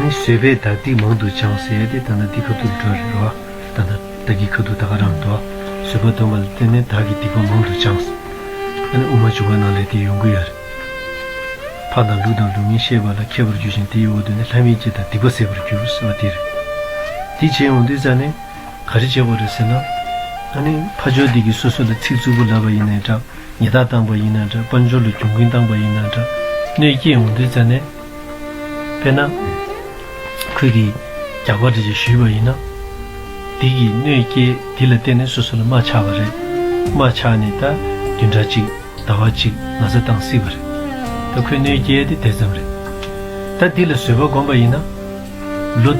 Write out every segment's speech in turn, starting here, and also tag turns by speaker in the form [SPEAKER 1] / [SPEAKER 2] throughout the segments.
[SPEAKER 1] བཟོད་པའི་དག་སྡིག་མང་དུ་བྱང་ཟེར་ཏེ་ད་ནི་འདི་ཁ་ཐུག་འགྲོ་རེད་རོ། ད་ནི་བདག་གིས་ཁ་ཐུག་ད་ག་རང་འདོགས། བཟོད་པ་འདོན་པ་ལ་བརྟེན་ནས་བདག་གིས་སྡིག་པ་མང་དུ་བྱང། ད་ནི་དབུ་མ་བྱུང་བ་རྣམས་ལས་དེའི་ཡོང་གི་ཡོད་རེད། འཕགས་དང་ལུགས་དང་ལུགས་མིན་ཤེས་པ་ལ་མཁས་པར་འགྱུར་ཞིང་དེའི་འོག་ཏུ་ནི་ལྷ་མིའི་སྐྱེ་དང་སྡིག་པ་ཟད་པར་འགྱུར་ཟེར་བ་དེ་རེད། འདི་བྱས་ཡོང་དུས་ཙཱ་ནས། ག་རེ་བྱས་པ་རེད་ཟེར་ན། ད་ནི་ཕ་ཇོ་འདི་གིས་སོ་སོ་ལ་ཚིག་རྩུབ་པོ་ལབ་པ་ཡིན་ནའི་དྲག། ཉི་ཟླ་དྭངས་པ་ཡིན་ན་འདྲ་དཔལ་འབྱོར་ལ་གྱོང་གུན་བཏང་པ་ཡིན་ན་འདྲ་གནོད་སྐྱེལ་འོང་དུས་རྩ་ནས། དཔེར་ན། ཁུལ་གྱིས་རྒྱག་པ་འདྲ་ཅིག་ཞུས་པ་ཡིན་ན། སྡིག་གིས་གནོད་སྐྱེལ་འདི་ལ་བརྟེན་ནས་སོ་སོ་ལ་རྨ་ཆགས་པ་རེད། རྨ་ཆགས་ནས་ད་བདུན་ཕྲག་གཅིག་ཟླ་བ་གཅིག་ན་ཚ་བཏང་སྲིད་པ་རེད། ད་ཁོས་གནོད་སྐྱེལ་དེ་དེ་ཙམ་རེད། ད་འདི་ལ་བཟོད་པ་སྒོམ་པ་ཡིན་ན། ལོ།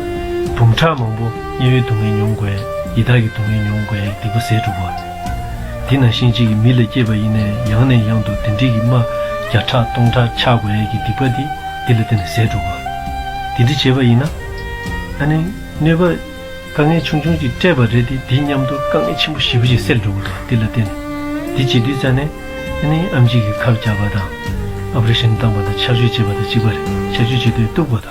[SPEAKER 1] འབུམ་ཕྲག་མང་པོ་དམྱལ་བའི་སྡུག་བསྔལ་མྱོང་དགོས། ཡི་དྭགས་ཀྱི་སྡུག་བསྔལ་མྱོང་དགོས་སྡིག་པ་ཟད་འགྲུབ་བ། འདི་ན་ཤིང་གཅིག་གིས་མི་ལ་སྐྱེས་པ་ཡིན་ནས་ཡང་ནས་ཡང་དུ་དེ་འདྲིས་ཀྱི་རྨ། བརྒྱ་ཕྲག་སྟོང་ཕྲག་འཆག་དགོས་ཡས་ཀྱི་སྡིག་པ་འདི་འདི་ལ་བརྟེན་ནས་ཟད་འགྲུབ་བ། འདི་འདྲི་བྱེད་པ་ཡིན་ན། ཨ་ནི། གནོད་པ། དཀའ་ངལ་ཆུང་ཆུང་གཅིག་སྤྲད་པ་རེད་དེ་འདི་སྙམ་དུ་དཀའ་ངལ་ཆེན་པོ་བཞི་པོ་ཞིག་སེལ་འགྲོ་དགོས་པ་འདི་ལ་བརྟེན་ནས། འདི་བྱེད་དུས་རྩ་ནས། ཨ་ནི་ཨམ་གཅིག་གིས་ཁབ་རྒྱག་པ་དང། ཨ་པ་རི་ཤན་བཏང་པ་དང་ཆགས་སྤྱོད་བྱེད་པ་དང་གཅིག་པ་རེད་ཆགས་སྤྱོད་བྱེད་དུས་གཏུག་པ་དང།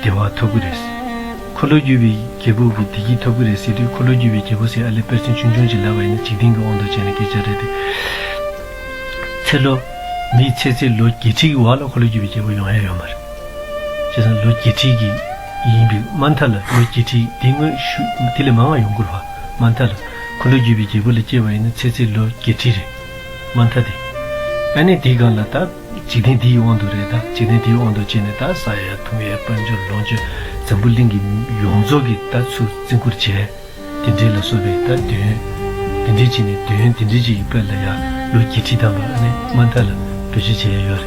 [SPEAKER 1] བདེ་བ་ཐོབ་ཀྱི་རེད། འཁོར་ལོས་སྒྱུར་བའི་རྒྱལ་པོ་གིས་བདེ་སྐྱིད་ཐོབ་ཀྱི་རེད་ཟེར་དུས་འཁོར་ལོས་སྒྱུར་བའི་རྒྱལ་པོ་སྲས་ཨ་ལས་དཔལ་སེང་ཆུང་ཆུང་ཅིག་ལབ་པ་ཡིན་ན་འཇིག་རྟེན་གྱི་དབང་དུ་བྱས་ནས་སྐད་ཆ་རེད་དེ། ཚེ་ལོ། མིའི་ཚེ་ཚད་ལོ་བརྒྱད་ཁྲི་གི་བར་ལ་འཁོར་ལོས་སྒྱུར་བའི་རྒྱལ་པོ་ཡོང་ཡ་ཡོད་མ་རེད། བྱས་ཙང་ལོ་བརྒྱད་ཁྲི་གི་ཡིན་པའི་མ་མཐའ་ལ་ལོ་བརྒྱད་ཁྲི་དེ་དངོས་ཤུགས་དེ་ལས་མང་བ་ཡོང་དགོས་བ་མ་མཐའ་ལ། འཁོར་ལོས་སྒྱུར་བའི་རྒྱལ་པོ་ལས་སྐྱེས་པ་ཡིན་ན་ཚེ་ཚད་ལོ་བརྒྱད་ཁྲི་རེད་མ་མཐའ་དེ། ཨ་ནི་དེའི་སྒང་ལ་ད། འཇིག་རྟེན་འདི་ཡི་དབང་དུ་རེད་ད། འཇིག་རྟེན་འདི་ཡི་དབང་དུ་བྱས་ནས་ད། ས་ཡ་ཐུང་ཡའི་དཔལ་འབྱོར་ལོངས་སྤྱོད་འཛམ་བུ་གླིང་གི་ཡོངས་རྫོགས་ཀྱི་ད་ཚུར་བརྩི་བཀུར་བྱས། དེ་འདྲའི་ལ་སོགས་པའི་ད་དོན། དེ་འདྲའི་བྱས་ནས་དོན་དེ་འདྲའི་ཅིག་ཡི་དཔལ་ལ་ཡང་ལོ་བརྒྱད་ཁྲི་ཐམ་པ་ཨ་ནེ་མ་མཐའ་ལ་བོད་ཆས་བྱས་ཡ་ཡོད་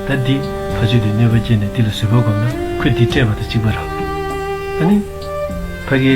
[SPEAKER 1] རེད་ད། འདི་ཕ་ཆོས་དེ་གནོད་པ་སྐྱེལ་ནས་འདི་ལ་བཟོད་པ་བསྒོམ་ན་ཁོས་འདི་སྤྲད་པ་དང་གཅིག་པ་རང། ཨ་ནེ། ཕ་གི།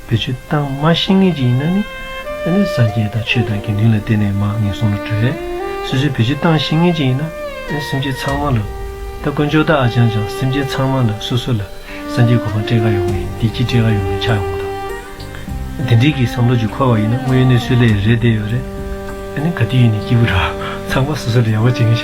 [SPEAKER 1] བོད་ཆུ་གཏང་མ་ཤེས་ངེས་ཅིག་ཡིན་ན་ནི། ཨ་ནི་སངས་རྒྱས་དང་ཆོས་དང་དགེ་འདུན་ལ་བརྟེན་ནས་མ་ངེས་གསུང་ལ་གྲོལ། སོ་སོའི་བོད་ཆུ་གཏང་ཤེས་ངེས་ཅིག་ཡིན་ན། ཨ་ནི་སེམས་ཅན་ཚང་མ་ལ། ད་དཀོན་མཆོག་བདག་ཨ་ཅག་ཅག་སེམས་ཅན་ཚང་མ་ལ་སོ་སོ་ལ། སངས་རྒྱས་གོ་འཕང་སྤྲད་ག་ཡོང་ངེས་བདེ་སྐྱིད་སྤྲད་ག་ཡོང་ངེས་ཆགས་ཡོང་དང། དེ་འདྲིའི་གི་བསམ་བློ་ཅིག་འཁོར་བ་ཡིན་ན་དངོས་ཡོད་གནས་ཚུལ་ལས་རེད་བསྡད་ཡོད་རེད། ཨ་ནི་ག་དུས་ཡིན་ནས་སྐྱིད་པོ་ར། ཚང་མ་སོ་སོ་ལ་ཡག་པོ་བྱེད་མཁན་ཤ།